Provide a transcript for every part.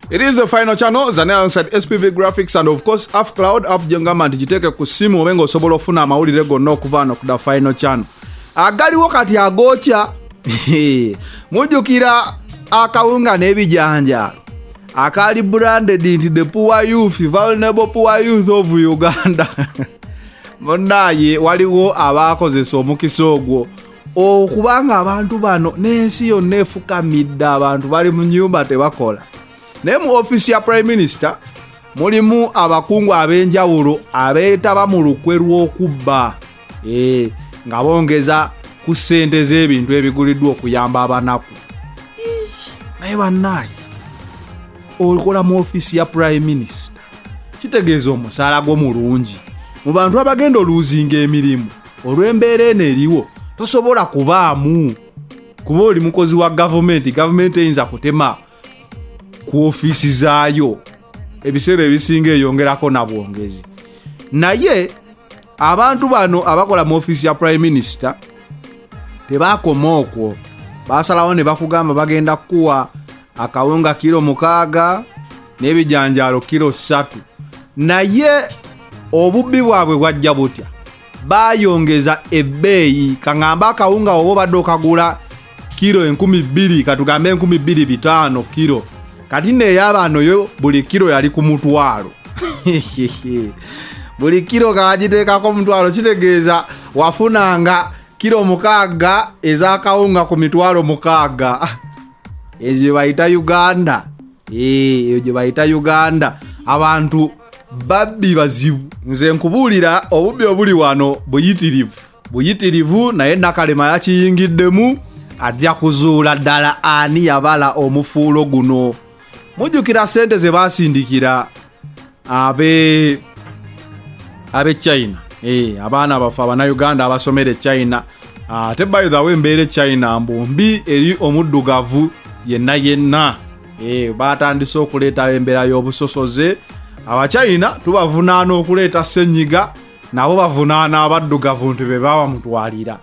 It is the final channel zane alongside SPV Graphics and of course Half Cloud app jengama nti giteeke ku simu obenga osobola ofuna amawulire gonna okuva wano ku the final channel agaliwo kati agokya mujjukira akawunga n'ebijanja akali branded nti the poor youth vulnerable poor youth of uganda munaye waliwo abaakozesa omukisa ogwo okubanga abantu bano n'ensi yonna efukamidde abantu bali mu nyumba tebakola naye mu ofiisi ya prime minister mulimu abakungu ab'enjawulo abeetaba mu lukwe lw'okubba eh, nga bongeza ku ssente z'ebintu ebiguliddwa okuyamba abanaku naye bannaaki okola mu ofiisi ya prime minister kitegeeza omusaala gwo mulungi mu bantu abagenda oluuzinga emirimu olw'embeera eno eriwo tosobola kubaamu kuba oli mukozi wa gavumenti gavumenti eyinza kutema ku ofiisi zaayo ebiseera ebisinga eyongerako na bwongezi naye abantu bano abakola mu ofiisi ya prime minister tebaakoma okwo basalawo ne bakugamba bagenda kukuwa akawunga kiro mukaaga n'ebijanjaalo kiro ssatu naye obubbi bwabwe bwajja butya bayongeza ebbeeyi kaŋambe akawunga oba obadde okagula kiro enkumi bbiri katugambe enkumi bbiri bitaano kiro kati neeyabaano yo buli kiro yali ku mutwalo buli kiro kagiteekako omutwalo kitegeeza wafunanga kiro mukaaga ezakawunga ku mitwalo mukaaga eyo gye bayita uganda Eh, eyo gye bayita uganda abantu babbi bazibu nze nkubuulira obubbi obuli wano buyitirivu buyitirivu naye nakalema yakiyingiddemu ajja kuzuula ddala ani yabala omufuulo guno mujjukira ssente ze baasindikira abe abe china eh, abaana baffe abanauganda abasomera e china ah, ate by the way embeera e china mbu mbi eri omuddugavu yenna yenna eh, batandise okuleetawo embeera y'obusosoze abachina tubavunaana okuleeta senyiga nabo bavunaana abaddugavu nti bebawa mutwalira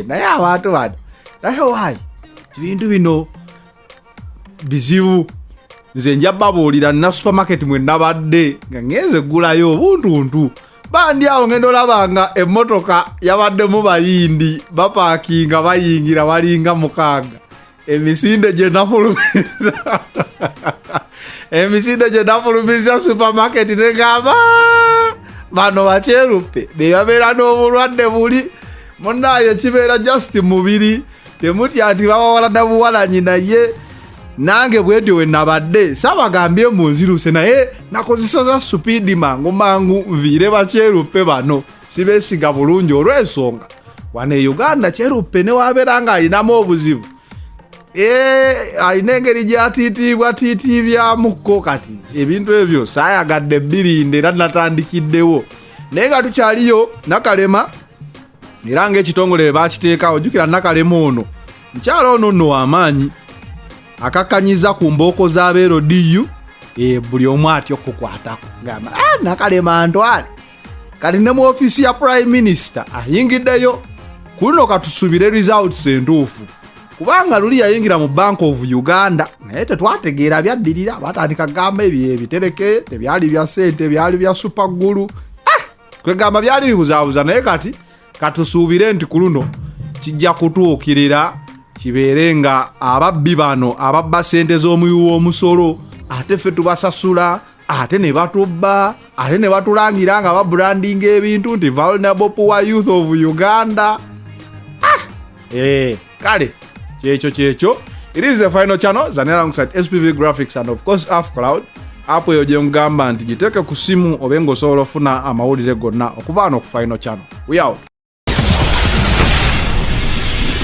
naye abantu bano naye wayi ebintu bino bizibu nze nja babuulira nna supermarket mwe nabadde nga ŋenze eggulayo obuntuntu bandi awo ngenda olaba nga emmotoka yabaddemu bayindi bapaakinga bayingira balinga mukaaga emisinde gye nafulumiza emisinde gye nafulumiza supermarket negamba bano bakyeruppe bebabeera n'obulwadde buli munaye kibeera just mubiri temutya nti bawawala nabuwalanyi naye nange bwetyo wenabadde sabagambye munziruse naye nakozesa za supidi mangu mangu nviire bakyeruppe bano sibesiga bulungi olwensonga wano e uganda kyeruppe newabeera nga alinamu obuzibu eh, alina engeri gyatiitiibwa tiitiibyamukko kati ebintu ebyo sayagadde birinde era natandikiddewo naye nga tukyaliyo nakalema era ng'ekitongole bwe baakiteekawo jjukira nakalema ono mukyala ono nno wamaanyi akakkanyiza ku mbooko z'abeero diyu e, buli omu atya okukukwatako ngamba ah, nakalema ntwale kati ne mu ofiisi ya prime minisita ayingiddeyo ku luno katusubire results entuufu kubanga luli yayingira mu bank of uganda naye tetwategeera byaddirira batandika gamba ebyo ebitereke tebyali bya sente byali bya supagulu ah! kwegamba byali bibuzabuza naye kati katusuubire nti ku luno kijja kutuukirira kibeere nga ababbi bano ababba sente z'omuwi w'omusolo ate ffe tubasasula ate ne batubba ate ne batulangira nga babrandinga ebintu nti vulnerable poor youth of uganda ah! eh. kale kyekyo kyekyo it is the final channel zane alongside spv graphics and of course af cloud app eyo gyengamba nti giteeke ku simu obe nga osobola ofuna amawulire gonna okuva ano ku final channel we out